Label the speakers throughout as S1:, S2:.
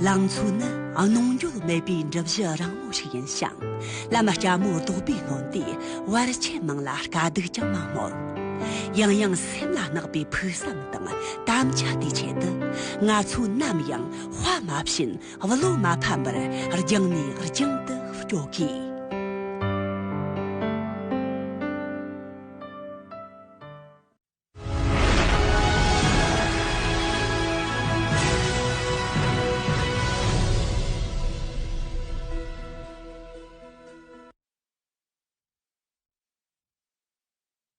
S1: ལང་ཚོ་ནི་གནོང་འགྱོད་མེད་པའི་འགྲུབ་གཞི་རིང་མོ་ཞིག་ཡིན་ཞིང་བླ་མ་སྐྱ་མོ་རྡོ་སྦིས་སྔོན་དུས་བར་ཆད་མང་ལ་དཀའ་སྡུག་ཀྱང་མང་མོད། ཡང་ཡང་སེམས་ལ་བརྣག་པའི་ཕུགས་བསམ་དང་དམ་བཅའ་དེའི་ཆེད་དུ་ང་ཚོས་ནམ་ཡང་དཔའ་མ་ཕྱིན་བློ་མ་ཕམ་པར་རྒྱང་ནས་རྒྱང་དུ་སྐྱོད་དགོས།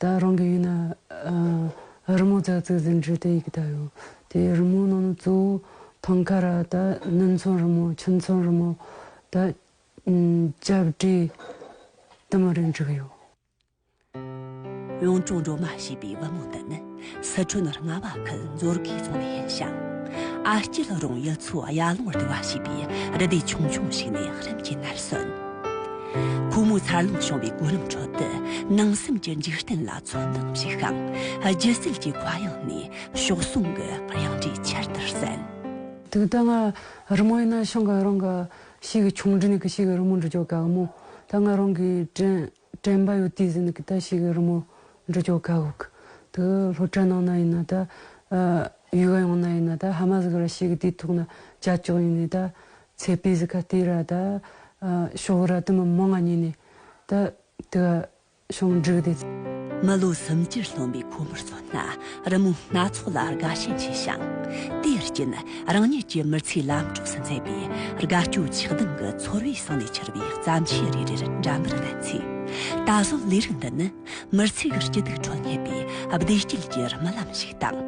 S2: ད་རང་གི་ཡུལ་ན་རི་མོ་རྩ་ཚིག་ཟིན་བྲིས་དེ་ཡི་གེ་དག་ཡོད། དེའི་རི་མོའི་ནང་ནས་གཙོ་བོ་ཐང་ཁ་ར་དང་གནམ་མཚོན་རི་མོ་ཁྱིམ་མཚོན་རི་མོ་དང་ལྕགས་བྲིས་དུ་མ་རེ་འབྲི་གི་ཡོད། གཡུང་དྲུང་སྒྲོལ་མ་ཞེས་པའི་བུ་མོ་འདི་ནི་སི་ཁྲོན་རྔ་བ་ཁུལ་མཛོ་དགེ་རྫོང་ནས་ཡིན་ཞིང།
S1: ཨ་སྐྱི་ལོ་རོང་ཡུལ་ཚོའི་གཡའ་ལུང་བར་དུ་བ་ཞེས་པའི་རི་དེ་ཆུང་ཆུང་ཞིག་ནས་རིམ་གྱིས་ནར་སོན། ཁོ་མོའི་འཚར་ལོངས་བྱུང་བའི་གོ་རིམ་ཁྲོད་དུ་ནང་སེམས་ཀྱི་འཇིག་རྟེན་ལ་ཚོད་འདང་བཞུགས་ཤིང། སྒྱུ་རྩལ་གྱི་གོ་ཡང་ནས་གཤོག་ཟུང་གི་གཡང་སྒྲས་ཆེར་
S2: དུ་གསན། དེ་ལྟ་ང་རི་མོ་ཡིན་ན་ཤང་གི་རང་གི་ཕྱིའི་གི་ཆུང་འབྲིང་ནས་གི་ཕྱིའི་གི་རི་མོ་འབྲི་རྒྱུ་ག་གི་མོ། ད་ང་རང་གིས་འབྲིས། དྲན་པ་ཡོད་དུས་ཟིན་གི་ད་ཞིག་རི་མོ་འབྲི་ཆོག་ཁ་ཁུག་ཏུ་ལྷོ་བྲག་ནང་ན་ཡིན་ན་ད། ཡུལ་ག་ཡོང་ན་ཡིན་ན་ད་ཧ་མ་ཟིག་ར་ཞིག་གི་དུས་ཐོག་ན་བྱ་ཆོག་ཡིན་ནི་ད། ཚེ་སྤེ་ཟིག་ག་དུས་ར་ད། ཤོག་ར་དུ་མ་མོ་ང་ཉིད་ནས་ད། དུ་བ་ཤོང་འགྲིག་དེ། མི་ལོ་སུམ་ཅུར་སློང་བའི་ཁོ་མོར་མཚོན་ན་རི་མོ་སྣ་ཚོགས་ལ་དགའ་ཞེན་ཆེ་ཞིང།
S1: དེའི་རྐྱེན་རང་ཉིད་ཀྱི་མི་ཚེའི་ལམ་གྲོགས་སུ་མཛད་པའི་དགའ་སྐྱོ་ཆགས་སྡང་གི་ཚོར་བས་ཟིང་ནས་འཁྱེར་བའི་བརྩམས་ཆོས་རེ་རེར་འགྲན་པར་བསླད་ཚེ། ད་གཟོད་ལས་རིགས་འདི་ནི་མི་ཚེའི་སྐྱིད་སྡུག་ཁྲོད་རྙེད་པའི་བདེ་སྐྱིད་ཀྱི་རྨི་ལམ་ཞིག་དང།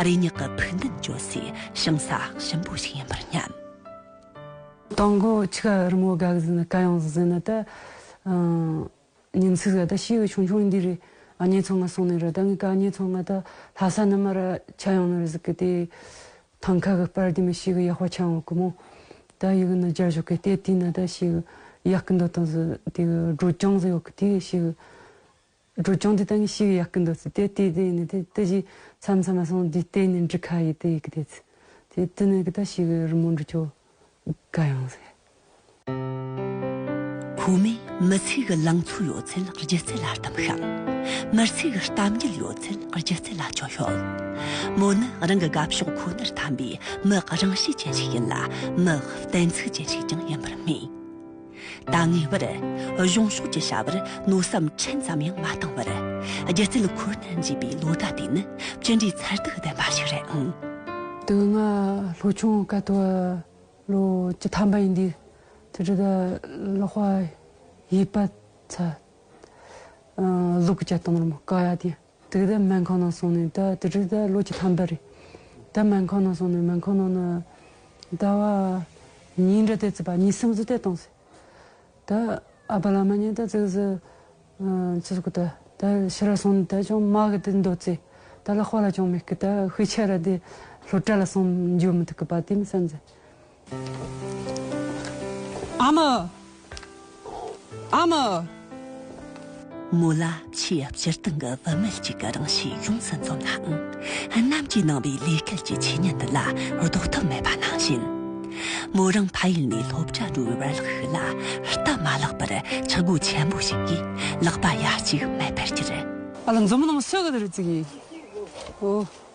S1: རེ་སྙེག་གི་ཕུགས་འདུན་བཅོལ་སའི་ཞིང་ས་གཤིན་པོ་ཞིག་ཡིན་པར་སྙམ། དང་
S2: པོ་ཆུ་ཁ་རི་མོ་དགའ་བཞིན་དགའ་ཡང་བཞིན་དུ། ཉིན་ཚིག་ར་ད་ཤི་བའི་ཆུང་ཆུང་འདི་རེད་ཨ་མྱེས་ཚོ་ང་སོང་ནས་ར་ད་ངའི་ཀ་མྱེས་ཚོ་ང་ད་ལྷ་ས་ན་མ་ར་ཆ་ཡོང་ནོ་རེད་ཟེར་གི་དེ་ཐང་ཁ་གི་སྤར་དེ་མི་ཤི་གི་ཡག་པ་ཆ་ཡོང་གི་མོ་ད་ཡི་གི་ན་རྒྱ་བཞུགས་གི་དེ་དེ་ན་ད་ཤི་གི་ཡག་གི་འདུག་དང་ཟེར་དེ་གི་སྒྲོལ་སྐྱོང་ཟེར་ཡོད་གི་དེ་གི་ཤི་གི་སྒྲོལ་སྐྱོང་དེ་ད་ངའི་ཤི་གི་ཡག་གི་འདུག་ཟེར་དེ་དེ་ནས་དེ་དེ་གཞི་མཚམས་མཚམས་ལ་སོང་དེ་དེ་ནས་འདྲི་ཁ་ཡི་དེ་ཡི་གི་དེ་ཚེ་དེ་དེ་ནས་གི་ད་ཤི་གི་རི་མོ་འདྲི་ཆོག་དགའ་ཡང་ཟེར།
S1: ཁོ་མོས་མི་ཚེ་གི་ལང་ཚོ་ཡོད་ཚད་སྒྱུ་རྩལ་ལ་བསྟིམས་ཤིང། མི་ཚེ་གི་གཏམ་རྒྱུད་ཡོད་ཚད་སྒྱུ་རྩལ་ལ་བཅོལ་ཡོད། མོ་ནི་རང་གི་དགའ་ཕྱོགས་ཁོ་ནར་འཐམ་པའི་མི་རང་བཞིན་ཅན་ཞིག་ཡིན་ལ་མི་གཏན་ཚིགས་ཅན་ཞིག་ཀྱང་ཡིན་པར་སྨྲས། ད་ངེས་པར་གཞུང་ཕྱོགས་ཀྱི་བྱ་བར་མནོ་བསམ་ཕྲན་ཙམ་ཡང་མ་བཏང་བར་སྒྱུ་རྩལ་ཁོ་ན་འཇུས་པའི་ལོ་ཟླ་དེ་ནི་ཅི་འདྲའི་མཚར་སྡུག་ལྡན་པ་ཞིག་རེད་ཨང། དེ་སྔ་
S2: ལྷོ་ཆུང་དཀའ་ཐུབ་ལོ་བཅུ་ཐམ་པ་ཡིན་དུས་ཚོད་དྲུག་ལ་ལོག་པ་ཡིད་དཔའ་ཚལ། ལུག་གི་སྐྱ་སྟོང་རམ་ཀ་ཡ་དེ། དུས་བདག་སྨན་ཁང་ནང་སོང་ནས་ད་དུས་བདག་ལོ་བཅུ་ཐམ་པ་རེད། ད་སྨན་ཁང་ནང་སོང་ནས་སྨན་ཁང་ནང་ན་ད་བ་ཉིན་རེ་བལྟས་ཚེ་བ་ཉིན་སུམ་ཅུ་བལྟས་སྟངས་སུ། ད་ཨ་བ་ལ་མ་ཉན་ད་ཙི་ཙི་ཙི་ཙི་ཀུ་ད་ད་ཕྱི་ར་སོང་ནས་ད་ཅུང་མ་གི་དེ་འདོད་ཚེ་ད་ལ་དཔའ་ལ་ཅུང་མི་སྐུ་ད་ཤུལ་ཆད་ར་དེ་ལྷོ་བྲ་ལ་
S1: སོང་འཇུག་མི་ཐུག་གི་བ་དེ་མི་བསམ་ཚེ། ཨ་མ། ཨ་མ། མོ་ལ་ཆེས་སྤྱིར་བཏང་གི་བུད་མེད་ཅིག་གི་རང་གཤིས་ཡོངས་སུ་འཛོམས་ནའང། གནམ་གྱིས་གནང་བའི་ལས་སྐལ་གྱི་ཆོས་ཉིད་འདི་ལ་ལྡོག་ཐབས་མེད་པ་ནང་བཞིན། མོ་རང་ཕ་ཡུལ་ནས་སློབ་གྲྭ་འགྲོ་བའི་བར་ལག་ཤུལ་ལ་སྟབས་མ་ལེགས་པར་ཆག་སྒོ་ཆེན་པོ་ཞིག་གིས་ལག་པ་ཡ་གཅིག་མེད་པར་གྱུར། ཨ་ལ་འཛུམ་མདངས་
S2: སུ་ག་དུས་རེ་བརྩིགས་ཡིན།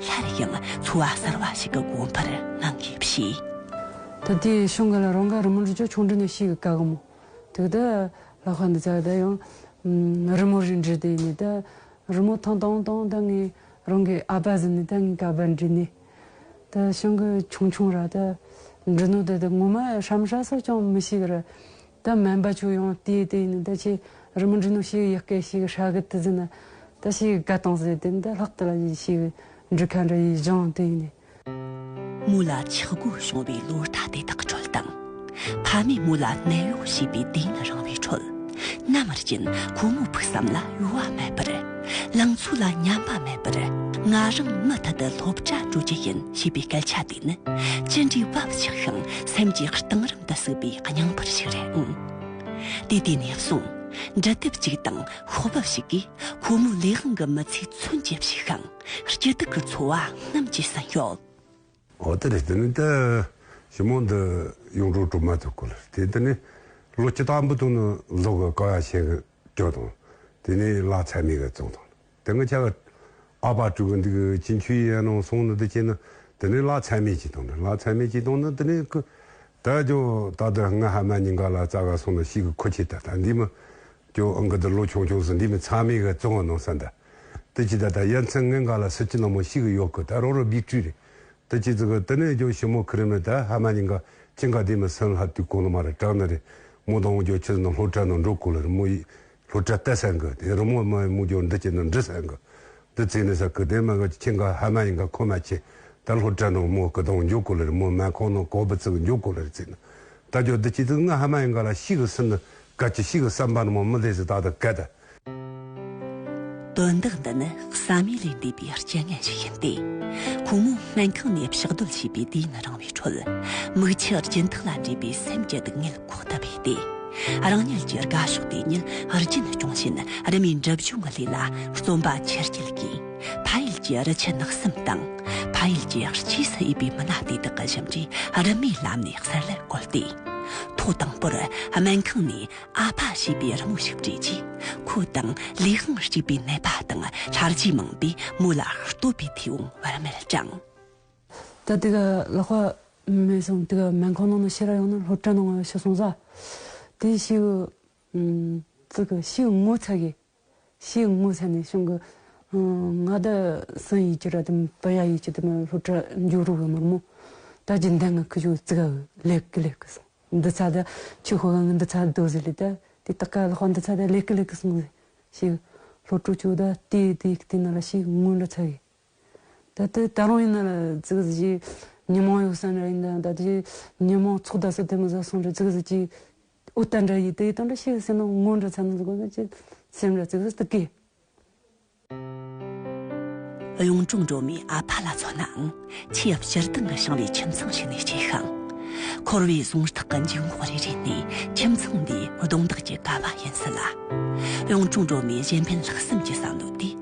S1: སླར་ཡང་འཚོ་བ་གསར་བ་ཞིག་གི་དགོངས་པར་སྣང་གིས་བཤད། ད་དེ་
S2: ཤོང་གི་ལ་རང་ག་རི་མོ་རི་ཅོ་ཆུང་འབྲི་ནས་ཤིག་གི་ག་གི་མོ། དུས་ད་ལ་ཁ་འདི་ཚ་ད་ཡང་རི་མོ་རི་འབྲི་དེ་ནས་ད་རི་མོ་ཐང་ཐང་ཐང་ད་ངས་རང་གི་ཨ་ཕ་ཟིན་ནས་ད་ངས་ག་བར་འབྲི་ནས། ད་ཤང་གི་ཆུང་ཆུང་ར་ད་འབྲི་ནོ་ད་དེ་ངོ་མ་ཧྲམ་ཧྲ་སོགས་ཀྱང་མི་ཤིག་གི་ར། ད་སྨན་པ་ཁྱོད་ཡང་དེའི་སྟེང་ནས་ད་ཁྱེད་རི་མོ་འབྲི་ནོ་ཞིག་ཡི་གེ་ཞིག་ཧྲ་གི་ཏི་ཟིན་ན་ད་ཞིག་དགའ་གཏོང་ཟེར་དེ་ནས་ད་ལྷག་ཏུ་ལ་ཡི་ཞིག་འབྲི་མཁན་འདྲ་ཡིས་སྦྱང་སྟེང་ནས།
S1: མོ་ལ་འཆི་སྒོ་བྱུང་བའི་ལོ་ཟླ་དེ་དག་གི་འཕྲོལ་དང། ཕ་མས་མོ་ལ་ནད་གཡོག་བྱས་པའི་དེང་ན་རང་བའི་འཕྲོལ། མནའ་མར་ཅན་ཁོ་མོ་ཕུགས་བསམ་ལ་གཡོ་བ་མེད་པར། ལང་ཚོ་ལ་ཉམས་པ་མེད་པར། ང་རང་མུ་མཐུད་དུ་སློབ་གྲྭ་འགྲོ་རྒྱུ་ཡིན་ཞེས་པའི་སྐད་ཆ་དེ། ནི་ཅི་འདྲའི་བབ་ཆགས་ཤིང་སེམས་ཀྱི་གཏིང་རིམ་དུ་ཟུག་པའི་སྙིང་འཕུར་ཞིག་རེད་ཨང། དུས་དེ་ནས་བཟུང་འབྲི་དེབ་ཅིག་དང་ཤོག་བུ་ཞིག་གིས་ཁོ་མོའི་ལས་དབང་གི་མི་ཚེའི་མཚོན་བྱེད་བྱས་ཤིང་སྐྱིད་སྡུག་གི་འཚོ་བ་རྔམ་གྱིས་ཟིན་ཡོད། འོ་དེ་
S3: རེད་དེ་ནི་དེ་ཞིབ་མོ་འདི་གཡུང་དྲུང་གྲུབ་མ་ཐུག་སྐུ་ལ་དེ་དེ་ནི་ལོ་བཅུ་དང་འབུད་དུང་ནི་ལོ་གི་ཀ་བ་ཆེན་གྱི་དྲོད་དང་དེ་ནི་ལ་ཚད་མེད་གྱི་བཙོང་དང། དེ་སྔ་ཁྱེད་ལ་ཨ་ཕ་སྤྲུལ་སྐུ་འདི་གི་སྤྱི་འཁྱུད་ཡས་གནང་སོང་ནི་འདི་སྐྱེས་ན་དེ་ནི་ལག་ཚད་མེད་ཅིག་དང་འདྲ་ལག་ཚད་མེད་ཅིག་དང་ནི་འདི་ནི་ཀུ། ད་ཀྱོ་ད་དུ་སྔ་ཧ་མ་ཉིན་ག་ལ་རྩ་ག་སོང་ན་ཤིག་གི་ཁུ་ཁྱི་ད་ད་འདི་མ། ཀྱོ་ཨང་གི་འདི་ལོ་ཆུང་ཆུང་སི་འདི་མི་ཚང་མས་ག་བཙོན་བ་གནང་ས་འདྲ། དི་ཅི་ད་ད་ཡ་མཚན་ངན་ག་ལ་སི་ཅི་ན་མོ་ཤིག་གི་ཡོག་གི་ད་རོ་རོ་བིག་ཏྲི་རེད། དི་ཅི་ཙི་གི་དི་ནི་ཀྱོ་ཤི་མོ་ཁི་རི་མི་ད་ཧ་མ་ཉིན་ག་ཅིན་ག་དེ་མི་སིན་ལྷ་དུས་གོང་ན་མ་རི་བྲག་ན་རེ་མོ་དང་ཀྱོ་ཁྱི་ཟི་ན་ལྷོ་བྲག་ན་འགྲོ་ཀུ་ལ་རི་མོ་ཡིས་ལྷོ་བྲག་རྟ་ཟན་གི་དེ་རི་མོ་སྨྲ་བའི་མུ་ཅོར་འདི་སྐྱེ་ནི་འབྲི་ཟན་གི། འདི་ཚེ་ནི་ས་སྐུ་ལྡན་མ་གི་ཁྱི་འགའ་ཧ་མ་ཡིན་ག་ཁོ་མ་ཁྱི། ད་ལྷོ་བྲག་ནང་མོ་སྐུ་དང་འཇོག་གོ་ལེར་མོ་སྨད་ཁང་ནང་གོག་བུ་བཙུག་འཇོག་གོ་ལེར་ཚེ་ནི། ད་ཅོ་འདི་སྐྱེ་དུས་ང་ཧ་མ་ཡིན་ག་ལ་ཤི་གི་སི་ནི། ག་ཁྱི་ཤི་གི་བསམ་པ་ནི་མོ་མི་བདེ་ཟི་ད་ད་གད་ད། དོན་
S1: དག་འདི་ནི་བསམ་ཡུལ་ལས་འདས་པའི་རྐྱེན་ངན་ཞིག་ཡིན་ཏེ། ཁོང་མོ་སྨན་ཁང་ནས་ཕྱག་རྡོལ་བྱས་པའི་དུས་ཡུན་རིང་བའི་ཁྲོད། མིག་ཆུ་སྦྱིན་ཐག་ལ་འདྲེས་པའི་སེམས་ཀྱི་སྡུག་བསྔལ། ཁོག་ད་བས་ཏེ། རང་ཉིད་ཀྱི་དགའ་ཕྱོགས་དེ་ཉིད་རྒྱུན་སྐྱོང་ཆེད་རི་མོའི་འགྲེམ་བྱུང་གི་ལས་ལ་རྩོམ་པ་ཆེར་བསྐྱེད་ཀྱིས་ཕ་ཡུལ་གྱི་རི་ཆུ་ནགས་གསུམ་དང་ཕ་ཡུལ་གྱི་སྐྱེས་སུ་ཡི་པའི་མི་སྣ་དེ་དག་གི་ཞིབ་འཇུག་རི་མོའི་ལམ་ནས་གསལ་ལེར་བཀོད་དེ། ཐོག་དང་པོར་སྨན་ཁང་ནས་ཨ་ཕ་ཞེས་པའི་རི་མོ་ཞིག་བྲིས་རྗེས་ཁོ་དང་ལུས་ཤིང་གཅིག་པའི་ནད་པ་དང་ལྷར་བཅས་མང་པོས་མོ་ལ་བསྟོད་པའི་མཐེ་བོང་བར་མེད་བསྐྱངས། ད་
S2: དེ་ག་ལ་ཁོ་མེད་སོང་དེ་ག་མེད་ཁོ་ནང་ན་ཤི་ར་ཡོང་ན་ལྷོ་བྲན་ནང་ང་ཤི་སོང་ས་དེ་ཤི་གི་ཙི་གི་ཤི་གི་ངོ་ཚ་གི་ཤི་གི་ངོ་ཚ་ནས་ཤོང་གི་ང་ད་སང་ཡིད་ཀྱི་ར་དེ་པ་ཡ་ཡིད་ཀྱི་དེ་མ་ལྷོ་བྲ་འཇུག་རུག་གི་མ་རྨོ་ད་ཇི་འདེ་ང་ཁི་ཤུག་ཙི་ག་གི་ལེགས་གི་ལེགས་གི་སོང་འདི་ཚ་ད་ཁྱི་ཤུག་ག་ང་འདི་ཚ་དོ་ཟི་ལི་ད་དེ་ད་ག་ལ་ཁོ་འདི་ཚ་ད་ལེགས་གི་ལེགས་གི་སོང་ཟི་ཤི་གི་ལྷོ་བྲོ་ཅུག་ད་དེ་དེ་གི་དེ་ན་ལ་ཤི་གི་ངོ་འདྲ་ཚ་གི། ད་ལྟའི་ད་རུང་ཡིན་ན་ལ་ཙི་གི་ཟི་ཅིག་ཉིན་མོང་ཡོད་བསམ་ར་ཡིན་ད་ད་ཅིག་ཉིན་མོང་ཚོགས་ད་སོ་དེ་མི་ཟ་སོང་ར་ཙི་གི་ཟི་ཅིག་ཨུ་ཏན་ར་ཡིད་ད་ཡིད་ད་འདྲ་ཤིག་སེམས་ན་ངོ་འདྲ་ཚ་ན་ཟི་གོ་ན་ཅི་སེམས་ར་ཙི་གི་ཟི་ཏི་ཀི། གཡུང་དྲུང་སྒྲོལ་མའི་
S1: ཨ་ཕ་ལ་མཚོན་ནའང་ཆེས་ཡབ་སྤྱིར་བཏང་གི་ཞིང་ལས་ཁྱིམ་ཚང་ཞིག་ནས་སྐྱེས་ཤིང། འཁོར་བའི་ཟུངས་ཐག་གི་འཇུག་ངོགས་རེ་རེ་ནི་ཁྱིམ་ཚང་འདིའི་གདོང་འདག་གི་ཀ་བ་ཡིན་སྲིད་ལ། གཡུང་དྲུང་སྒྲོལ་མའི་གཞན་ཕན་ལྷག་བསམ་གྱི་བསམ་བློ་དེ།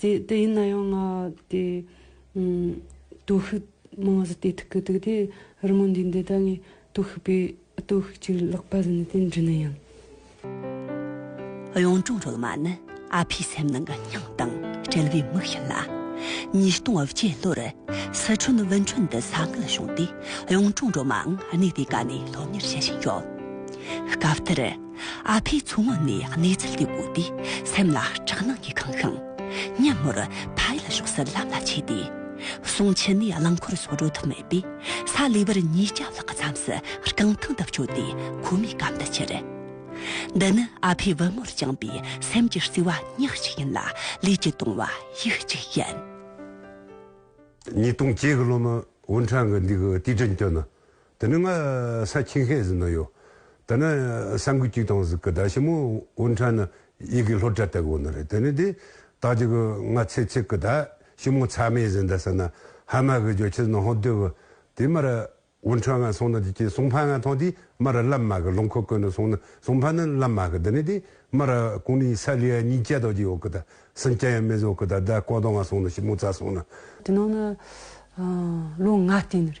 S2: དེ་ཡིན་ན་ཡང་ང་དེ་སྟོབས་ཤུགས་མང་བ་ཟིན་ཏེ་ཐུག་གི་འདུག་དེ་རི་མོ་འདི་འདི་ད་ངའི་སྟོབས་ཤུགས་པའི་སྟོབས་ཤུགས་ཅིག་ལགས་པ་ཟིན་ཏེ་འབྲི་ནི་ཡིན། གཡུང་
S1: དྲུང་རོལ་མ་ནི་ཨ་ཕའི་སེམས་ནང་གི་སྙིང་དང་བྲལ་བའི་མིག་ཡིན་ལ། ཉིས་སྟོང་བརྒྱད་ལོར་སི་ཁྲོན་ཝུན་ཁྲོན་དུ་ས་འགུལ་བྱུང་སྟེ་གཡུང་དྲུང་སྒྲོལ་མའང་གནས་དེ་ག་ནས་སློབ་གཉེར་བྱེད་བཞིན་ཡོད། སྐབས་དེར། ཨ་ཕས་ཚུར་ངོ་ནས་གནས་ཚུལ་དེ་བཀོད་དེ་སེམས་ལ་སྐྲག་སྣང་གིས་གང་ཤོང་སྙམ་མོར་ཕའི་ལ་ཞོགས་སུ་ལམ་ལ་ཆས་ཏེ། སོང་ཕྱི་ནས་རླངས་འཁོར་སོགས་འགྲོ་ཐུབ་མེད་པས་ས་ལེ་བར་གཉིས་བརྒྱ་ལྷག་གི་མཚམས་སུ་རྐང་ཐང་དུ་བསྐྱོད་དེ་ཁོ་མོའི་གམ་དུ་ཁྱེར། འདི་ནི་ཨ་ཕས་བུ་མོར་བཅངས་པའི་སེམས་ཀྱི་བརྩེ་བ་ཉག་གཅིག་ཡིན་ལ་ལུས་ཀྱི་དུང་བ་ཡིག་གཅིག་ཡིན།
S3: ཉིས་སྟོང་བརྒྱད་གི་ལོ་ནི་ཝུན་ཁྲང་གི་འདི་གི་དུས་དྲན་སྐྱོད་ནི། དེ་ནི་ང་ས་ཁྱིང་ཧའེ་ཟི་ན་ཡོད། དེ་ནི་ས་འགུལ་གཅིག་དང་ཟིག་གི་ཟླ་ཞིབ་མོ་ཝུན་ཁྲན་ནི་ཡིག་གི་ལྷོ་བྲག་སྟེགས་བོ་ན་རེད་དེ་ནི་དེ་དག་ཅིག་གི་ང་ཚེ་ཚིག་གི་ཟླ་ཞིབ་མོ་ཚ་མེ་ཟི་འདི་ས་ན་ཧ་མ་གི་རྒྱོ་ཆིས་ནོ་ཧོ་དུས་བུ་དེ་མར་ཝུན་ཁྲན་ང་སོང་ན་དེ་ཅིག་སུང་ཕ་ང་ཐང་དེ་མར་ལམ་མ་གི་ལུང་ཁུ་ཀུན་ནི་སོང་ན་སུང་ཕ་ནི་ལམ་མ་གི་དེ་ནི་དེ་མར་ཀུང་ནི་ས་ལི་ཡ་གཉིས་ཅལ་དོག་ཅིག་ཡོག་གི་ད་སིན་ཅན་ཡ་མེ་ཟོག་གི་ད་ཟླ་ཀོ་དོ་ང་སོང་ན་ཞིབ་མོ་ཚ་སོང་ན། དེ་ནང་
S2: ནི་ལོ་ང་སྟེ་ནི་རེད།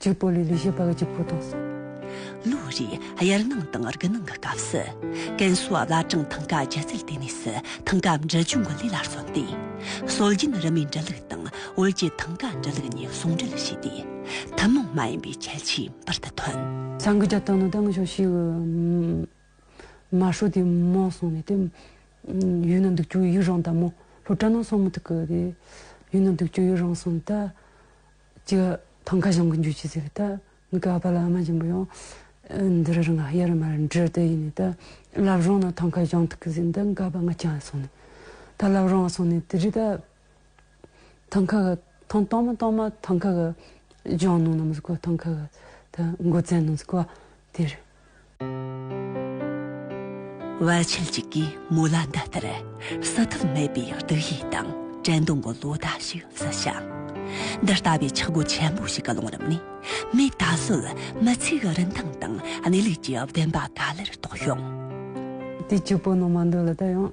S2: གཅིག་པོ་ལས་ལས་བྱེད་པ་གཅིག་པོ་དང། ལོ་
S1: རེའི་དབྱར་གནང་དང་དགུན་གནང་གི་སྐབས་སུ། ཀན་སུའུ་བླ་བྲང་ཐང་ག་སྒྱུ་རྩལ་ལྟེ་གནས་སུ་ཐང་ག་འབྲི་ཆུ་འགོད་ལས་ལ་བརྩོན་ཏེ། སྲོལ་རྒྱུན་རི་མོའི་འབྲི་ལུགས་དང་བོད་ཀྱི་ཐང་ག་འབྲི་ལུགས་གཉིས་ཟུང་འབྲེལ་བྱས་ཏེ། ཐུན་མོང་མ་ཡིན་པའི་ཁྱད་ཆོས་འབུར་དུ་ཐོན། བྱང་གི་རྒྱལ་ཐང་ནི་དེང་
S2: ཕྱོགས་ཤིག་གི་མ་ཧྲོ་དེ་མོ་སོང་ནས་དེ། ཡུལ་ན་འདུག་ཆུ་ཡུར་རང་ད་མོ་ལྷོ་བྲག་ན་སོང་མི་ཐུག་གི་དེ། ཡུལ་ན་འདུག་ཆུ་ཡུར་རང་སོང་ད། ཀྱི་ཐང་ཁ་བྱང་གི་འཇུ་ཆུ་ཟིག་ཏུ་ནི་ཀ་པཱ་ལ་ཨ་མ་ཆེན་པོ་ཡང་འདི་རུ་རང་ཨ་ཡེ་རུ་མ་རུ་འདྲིར་དུ་ཡིན་ནས་ཏི་ལབ་རོང་ན་ཐང་ཁ་བྱང་ཐུག་གི་ཟིག་འདི་ནི་ཀ་པཱ་ང་ཅང་སོང་ནས་ད་ལབ་རོང་སོང་ནས་དི་རི་ད་ཐང་ཁ་གི་ཐང་སྟོང་མ་སྟོང་མ་ཐང་ཁ་གི་བྱང་ནང་ན་མི་ཟིག་གོ་ཐང་ཁ་གི་ད་མགོ་བཙན་ནང་ཟིག་གོ་དེ་རུ།
S1: བ་ཆེན་ཅིག་གིས་མོ་ལ་འདི་ལྟར་བསད་ཐབས་མེད་པའི་སྡུག་ཡུས་དང་དྲན་གདུང་གི་ལོ་ཟླ་ཞིག་བསད་ཞིང། འདི་ལྟ་བུའི་འཆི་སྒོ་ཆེན་པོ་ཞིག་གི་ཀློང་རིམ་ནས་མོས་ད་གཟོད་མི་ཚེ་གི་རིན་ཐང་དང་གནས་ལུགས་ཀྱི་བདེན་པ་ག་ལེར་རྟོགས་ཤིང། དེའི་སྐྱེ་བོ་རྣམས་མ་
S2: འདོད་ལ་ད་ཡང།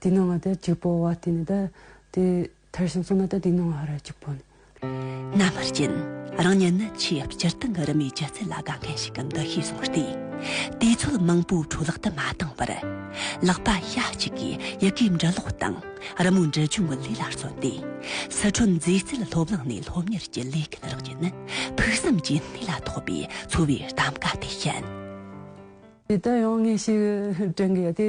S2: འདི་སྣང་བ་དེ་གཅིག་པོ་བ་དེ་ནི་དེ་ཐེར་ཞིང་གསུངས་ན་དེ་འདི་སྣང་བ་རེད་གཅིག་པོ་ནི། རྣམ་པར་
S1: སྤྱན་རང་བསྙེན་ནི་ཆེས་སྤྱིར་བཏང་གི་རི་མོའི་སྤྱི་རྫས་ལ་དགའ་མཁན་ཞིག་གམ་འདུ་ཤེས་བཟུང་བ་སྟེ། དེའི་ཚོད་མང་པོའི་འཕྲོ་བརླག་ཏུ་མ་བཏང་བར། ལག་པ་ཤ་གཅིག་གིས་ཡི་གེའི་འབྲི་ཀློག་དང་རི་མོའི་འབྲི་སྦྱོང་གི་ལས་ལ་བརྩོན་ཏེ། སི་ཁྲོན་མཛེས་རྩལ་སློབ་གླིང་ནས་སློབ་གཉེར་གྱི་ལས་སྐལ་རག་རྗེས་ནི་ཕུགས་བསམ་གྱི་གནས་ལ་ཐོགས་པའི་འཚོ་བའི་གདམ་ག་དེ་བཤད། དེ་ལྟར་ཡང་
S2: ངེས་ཤིག་དྲན་གྱི་ཡོད་དེ།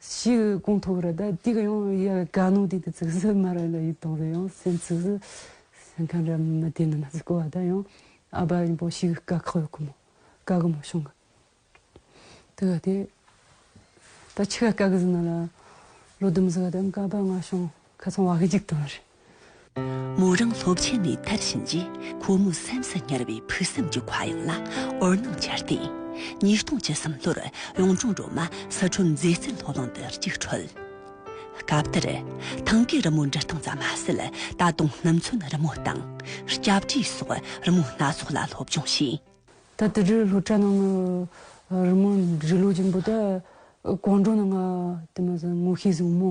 S2: ཞེས་ཀུན་ཐུབ་རེད་ད་ཅིག་ཡང་ཡ་ག་ནོ་དེ་དེ་ཚིག་ཟུར་མ་རེད་ལ་ཡིག་ཐོག་རེད་ཡང་སེམས་ཚིག་ཟུར་སེམས་ཁམས་རེད་མ་དེ་ནི་མ་ཟིག་གོ་བ་ད་ཡང་ཨ་བ་རིན་པོ་ཞིག་དཀའ་ཁག་ཡོད་གི་མོ་དཀའ་གི་མོ་བྱུང་གི་དེ་ག་དེ་ད་ཆི་ག་དཀའ་གི་ཟིན་ན་ལ་ལོ་དུམ་ཟི་ག་དེ་དཀའ་བ་ང་བྱུང། ཁ་ཚོང་བ་གཅིག་དང་རེད།
S1: མོ་རང་སློབ་ཆེན་ནས་ཐར་ཕྱིན་རྗེས་ཁོ་མོ་སེམས་སུ་ཉར་བའི་ཕུགས་བསམ་གྱི་ཁ་གཡང་ལ་འོད་སྣང་འཆར་ཏེ། ཉིས་སྟོང་བཅུ་གསུམ་ལོར་གཡུང་དྲུང་སྒྲོལ་མ་སི་ཁྲོན་མཛེས་རྩལ་སློབ་གླིང་དུ་རྒྱུགས་འཕྲོད། སྐབས་དེར། ཐང་གའི་རི་མོ་འབྲི་སྟངས་ཙམ་མ་ཟད་ད་དུང་སྣུམ་ཚོན་རི་མོ་དང། སྐྱ་བྲིས་སོགས་རི་མོ་སྣ་ཚོགས་ལ་སློབ་སྦྱོང་བྱས། ད་དུས་དེར་སློབ་
S2: གྲྭ་ནང་གི་རི་མོ་འབྲི་ཀློག་ཀྱི་འབུལ་རྟགས་གང་དྲུང་ནས་ང་དེ་མ་ཟད་ངོ་ཤེས་བཟང་མོ་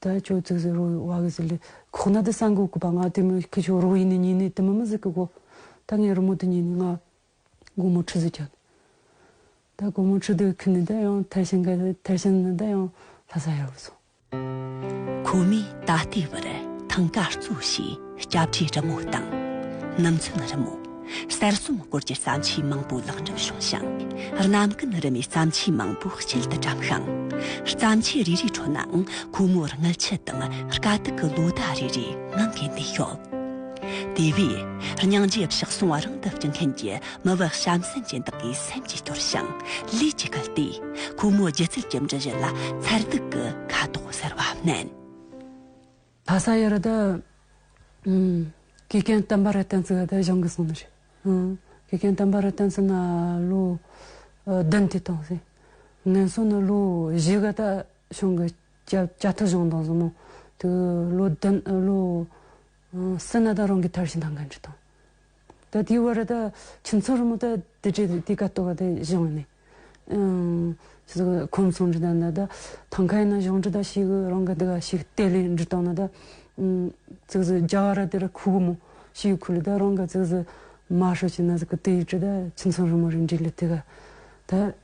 S2: ད་ཁྱོད་ཚོས་ཟེར་རོ་ཡོད་བ་གི་ཟེར་ལེ་ཁོག་ན་དེ་སང་གོ་གི་པ་ང་དེ་མོ་ཁྱོད་ཆོ་རོག་ཡིན་ནི་ཉིན་ནི་དེ་མི་མི་ཟིག་གི་གོ་ད་ངའི་རོ་མོ་དེ་ཉིན་ནི་ང་གོ་མོ་ཁྲི་ཟིག་ཁྱོད་ད་གོ་མོ་ཁྲི་དེ་ཁུ་ནི་ད་ཡང་ཐེར་ཤིང་གི་ཐེར་ཤིང་ནི་ད་ཡང་ལྷ་ས་ཡར་བུད་སོང།
S1: ཁོ་མོས་ད་ལྟའི་བར་ཐང་ཀ་བཙུགས་ཤིང། སྐྱབས་བཅོལ་རི་མོ་དང། ནམ་མཚོན་རི་མོ། གསར་རྩོམ་སྐོར་གྱི་བརྩམས་ཆོས་མང་པོ་ལེགས་འགྲུབ་བྱུང་ཞིང། རྣམ་ཀུན་རི་མོའི་བརྩམས་ཆོས་མང་པོ་དཔྱིད་དུ་བཀྲམ་ཞིང། བརྩམས་ཆོས་རེ་རེའི་ཁྲོད་ནའང་ཁོ་མོར་མངལ་ཆུ་དང་དཀའ་སྡུག་གི་ལོ་ཟླ་རེ་རེ་ངང་གིས་འདས་ཤོག། དེ་བས། སྙིང་རྗེ་བཤགས་སོང་བ་རང་དུ་བསྐྱུར་མཁན་གྱི་མི་བག་གཤམ་གསེང་ཅན་དག་གི་སེམས་ཀྱི་སྐྱོར་ཞིང་ལས་ཀྱིས་བསྐུལ་ཏེ། ཁོ་མོའི་སྒྱུ་རྩལ་གྱི་འབྲུ་བཞི་ལ་མཚར་སྡུག་གི་ཁ་དོག་གསར་བ་བསྣན། ལྷ་ས་ཡོད་རེད།
S2: དགེ་རྒན་བསྟན་པ་རེད་བསྟན་ཚུལ་ཡོད་གཞུང་གིས་གསུངས་ནི་རེད། དགེ་རྒན་བསྟན་པ་རེད་བསྟན་ཚུལ་ན་ལོ་བདུན་དུས་གཏོང་སྲིད། ངན་སོང་ནི་ལོ་བཞི་ག་ད་གཞུང་གི་བཅའ་ཐུབ་གཞུང་དང་གཟུ་མོ་དུ་ལོ་བདུན་ལོ་སུ་ན་ད་རང་གི་ཐར་ཤི་ད་འགན་འཁྲི་དང། ད་དེའི་བར་ད་ཁྱིམ་ཚང་རིང་མོ་ད་དེ་གྲས་དེ་ག་ལྟོ་བ་དེ་བཞེངས་བ་ནས། ཆུ་ཚོད་ཁོམ་གསུམ་རེ་ད་ན་ད་ཐང་ཁ་ཡིན་ན་གཞུང་འབྲི་དང་ཤིག་གི་རང་གི་དེ་ག་ཤིག་གཏད་ལེན་འབྲི་སྟངས་ན་ད། ཚིག་ཟུར་རྒྱ་ག་ར་དེ་ར་ཁུག་གི་མོ་ཤིག་གི་ཁུག་ལ་ད་རང་གི་ཚིག་ཟུར་མ་ཧྲོ་ཆེ་ན་ཟིག་གི་དེ་ཡི་གྲས་ད་ཁྱིམ་ཚང་རིང་མོ་རེ་འབྲི་ལ་དེ་ག་ད།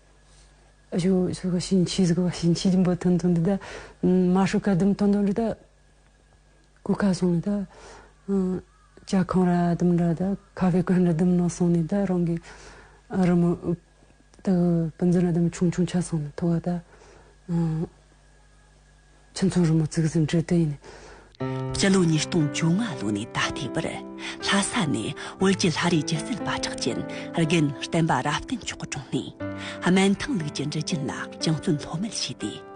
S2: ཞོ་ཞོ་ག་ཤིང་ཆི་ཟིག་གི་བ་ཤིང་ཆི་འབུ་ཐུང་ཐུང་དེ་ད་མ་ཧྲོ་ཁ་དུམ་ཐུང་ཐུང་རེ་ད། གོ་ཁ་སོང་ནས་ད་ལྕགས་ཁང་ར་དུམ་འདྲ་དང་ཁ་བའི་གོན་ར་དུམ་ནང་སོང་ནས་ད་རང་གི་རི་མོ་ད་བུ་འཛིན་ར་དུམ་ཆུང་ཆུང་ཆགས་སོང་ནས་ཐོ་བ་ད་ཁྱིམ་ཚང་རི་མོ་བརྩིགས་ཟིན་འདྲི་དུ་ཡིན་ནས། སྤྱི་ལོ་
S1: ཉིས་སྟོང་བཅོ་ལྔ་ལོ་ནས་ད་ལྟའི་བར་ལྷ་ས་ནས་བོད་ཀྱི་ལྷ་རིས་སྒྱུ་རྩལ་པ་གྲགས་ཅན་རྒན་བསྟན་པ་རབ་བརྟན་མཆོག་གི་དྲུང་ནས་སྨན་ཐང་ལུགས་ཀྱི་འབྲི་རྒྱུན་ལ་སྦྱང་བརྩོན་ལྷོད་མེད་བྱས་ཏེ།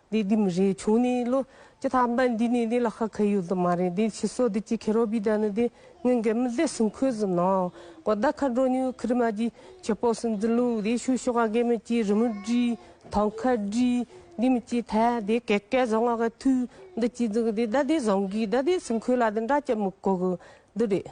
S4: འདི་འདི་མི་རེད་བྱུང་ནི་ལོ་ཅི་ཐ་མ་འདི་ནི་འདི་ལ་ཁ་ཁ་ཡོད་དུ་མ་རེད་འདི་ཕྱི་སོ་འདི་ཅི་ཁེ་རོ་བི་ད་ནི་འདི་ངན་གེ་མི་དེ་སུན་ཁོས་ཟིན་ནོ་གོ་ད་ཁ་འགྲོ་ཉུལ་ཁི་རི་མ་ཅི་ཁྱེད་པོ་སུན་འཛིན་ལུགས་འདི་ཤུ་ཤོ་ག་གེ་མི་ཅི་རི་མི་དྲི་ཐང་ཁ་དྲི་འདི་མི་ཅི་ཐ་འདི་གེ་གེ་བཟང་ང་ག་ཐུ་འདི་ཅི་འཛིན་གི་འདི་ད་འདི་བཟང་གི་ད་འདི་སུན་ཁོས་ལ་འདི་འདྲ་ཅི་མི་གོ་གི་འདི་རེད།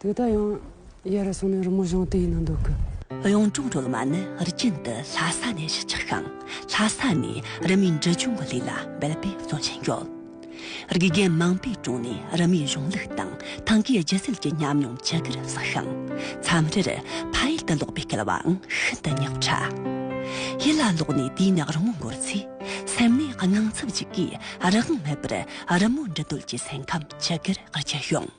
S2: དེ་ལྟ་ཡང། གཡས་རུ་སོང་ནས་རི་མོ་གཞུང་དེ་ཡིན་ན་འདོད་གི། གཡུང་དྲུང་སྒྲོལ་མ་ནི་རྒྱུན་དུ་ལྷ་ས་ནས་གཞིས་ཆགས་ཤིང་ལྷ་ས་ནས་རི་མོའི་འབྲི་སྦྱོང་གི་ལས་ལ་འབད་པས་བརྩོན་བཞིན་
S1: ཡོད། དགེ་རྒན་མང་པོའི་དྲུང་ནས་རི་མོའི་གཞུང་ལུགས་དང་ཐང་གའི་སྒྱུ་རྩལ་གྱི་ཉམས་མྱོང་ཇི་དགར་བསགས་ཤིང། མཚམས་རེར་ཕ་ཡུལ་དུ་ལོག་པའི་སྐལ་བའང་ཤིན་ཏུ་ཉག་ཕྲ། ཡུལ་ལ་ལོག་ནས་དུས་ནས་རི་མོ་འགོར་ཚེ་སེམས་ནི་
S3: དངངས་འཚབ་ཅིག་གིས་རང་དབང་མེད་པར་རི་མོ་འབྲི་འདོད་ཀྱི་སེམས་ཁམས་ཇི་དགར་སྐྱེ་ཡོང།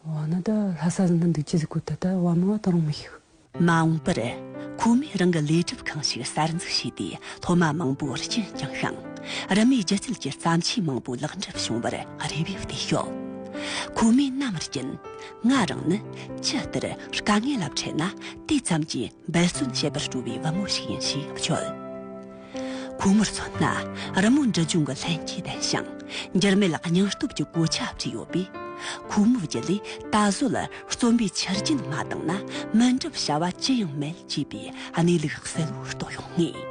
S2: བ་ན་ད་ལྷ་ས་ཟིན་ན་འདུག་ཅི་ཟིག་གོ་ད་ལྟ་བ་མང་བ་དང་རུང་མི་ཤིག། མ་འོངས་པར་
S1: ཁོ་མོས་རང་གི་ལས་སྒྲུབ་ཁང་ཞིག་གསར་འཛུགས་བྱས་ཏེ་སློབ་མ་མང་པོ་སྐྱེད་བསྐྱངས་ཤིང་རིམ་མེད་སྒྱུ་རྩལ་གྱི་བརྩམས་ཆོས་མང་པོ་ལེགས་འགྲུབ་བྱུང་བར་རེ་བས་བསྡད་ཤོག་ཁོ་མོས་རྣམ་རྒྱུན། ང་རང་ནི་ཅི་ལྟར་དཀའ་ངལ་ལ་འཕྲད་ན་དེ་ཙམ་གྱིས་འབད་བརྩོན་བྱེད་པར་སྤྲོ་བའི་བུ་མོ་ཞིག་ཡིན་ཞེས་བརྗོད། ཁོ་མོར་མཚོན་ན་རི་མོ་འབྲི་སྦྱོང་གི་ལྷན་སྐྱེས་ལྡན་ཞིང་འགྱུར་མེད་སྙིང་སྟོབས་ཀྱི་གོ་ཆ་བྲིས་ཡོད་པས། ཁོ་མོའི་རྒྱུད་ལས་ད་གཟོད་རྩོམ་པའི་ཆུ་རྒྱུན་མ་དྭངས་ན་མི་འགྲུབ་བྱ་བ་ཅི་ཡང་མེད་ཅེས་པའི་གནས་ལུགས་གསལ་བོར་རྟོགས་ཡོང་ངེས།